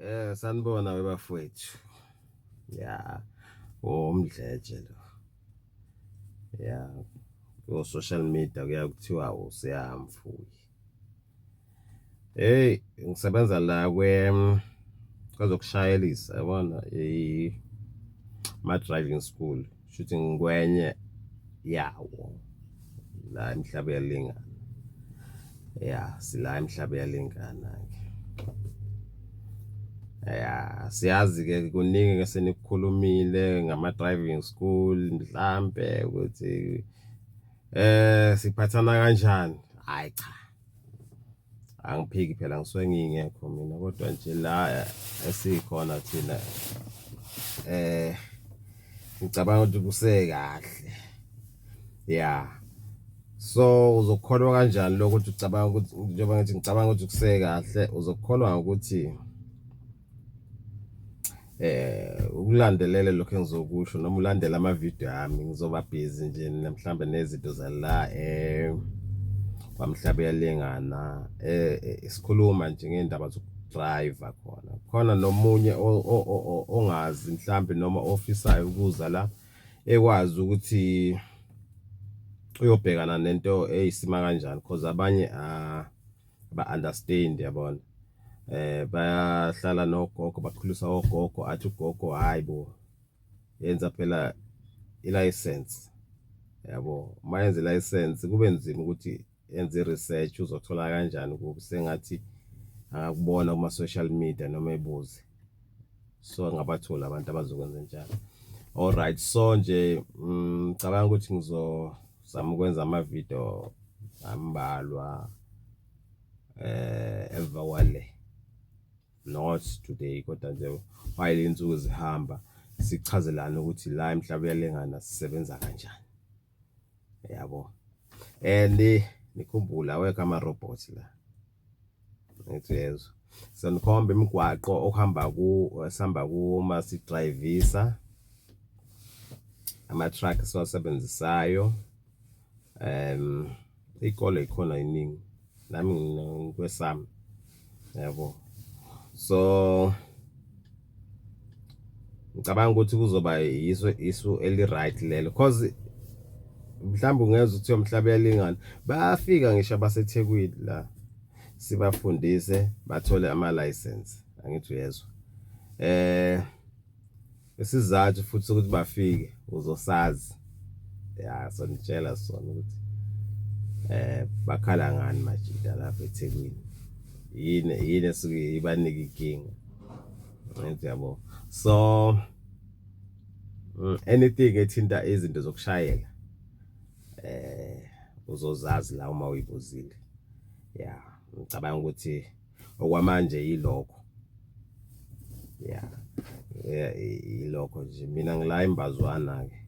Eh sanibona webafowethu. Yeah. Umdletshe lo. Yeah. Ku social media kuyakuthiwa usiyamfuyi. Hey ngisebenza la kwe kwezokushayelisa yabona i ma driving school shuthi ngikwenye yawo la emhlaba yalingana ya sila emhlaba yalingana ke ya siyazi ke kuningi ke senikukhulumile ngama driving school mhlambe ukuthi eh siphathana kanjani hayi cha angiphiki phela ngisuke ngingekho mina kodwa nje la esikhona thina eh ngicabanga ukuthi kusekahle ya so uzokholwa kanjani lokho ukuthi ucabanga ukuthi njengoba ngithi ngicabanga ukuthi kusekahle uzokholwa ukuthi Eh ukulandelela lokho engizokusho noma ulandela ama video ami ngizoba busy nje mhlambe nezinto zala eh kwamhlaba yalengana eh, eh isikhuluma nje ngendaba zoku driver khona khona nomunye ongazi mhlambe noma ofisayo ukuza la ekwazi ukuthi uyobhekana nento eyisima kanjani because abanye ah ba understand yabona eh bayahlala nogogo bakhulisa ogogo athi ugogo hayibo yenza phela i-license yabo uma yenza i-license kube nzima ukuthi enze i-research uzothola kanjani ukuthi sengathi akubona kuma-social media noma ebuze so angabatholi abantu abazokwenza njalo alright so nje mm, ngicabanga mm, ukuthi ngizo zama ukwenza ama video ambalwa eh emva kwale not today kodwa nje while insuku zihamba sichazelana ukuthi la emhlaba uyalengana sisebenza kanjani yabo and nikhumbula awekho ama robots la ngithi yezwa senikhomba imigwaqo okuhamba ku esihamba kuma sidrayivisa ama-truck esiwasebenzisayo um ikole ikhona iningi nami ngikwesami yabo so ngicabanga ukuthi kuzoba yiso isu eli-right lelo cause mhlawumbe ungeza ukuthi yomhlaba uyalingana bayafika ngisho abasethekwini la sibafundise bathole ama-license angithi uyezwa eh isizathu futhi ukuthi bafike uzosazi ya so nitshela sona ukuthi eh bakhala ngani majita lapha eThekwini yini yini esuke ibanike inkinga Ngithi yabo. So mm, anything ethinta izinto zokushayela eh uzozazi la uma uyibuzile. Yeah, ngicabanga ukuthi okwamanje yilokho. Yeah. Yeah, yilokho nje mina ngila imbazwana ke.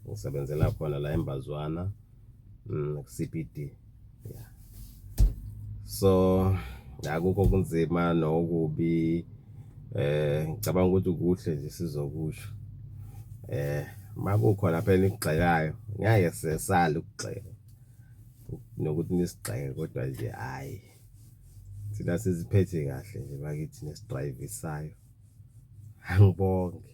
Ngisebenzela khona la imbazwana. mm, CBD yeah so akukho kunzima nokubi eh ngicabanga ukuthi kuhle nje sizokusho eh makukhona phela ikugxekayo ngeke sesale ukugxeka nokuthi nisigxeke kodwa nje hayi thina siziphethe kahle nje bakithi nesidrivisayo angibonge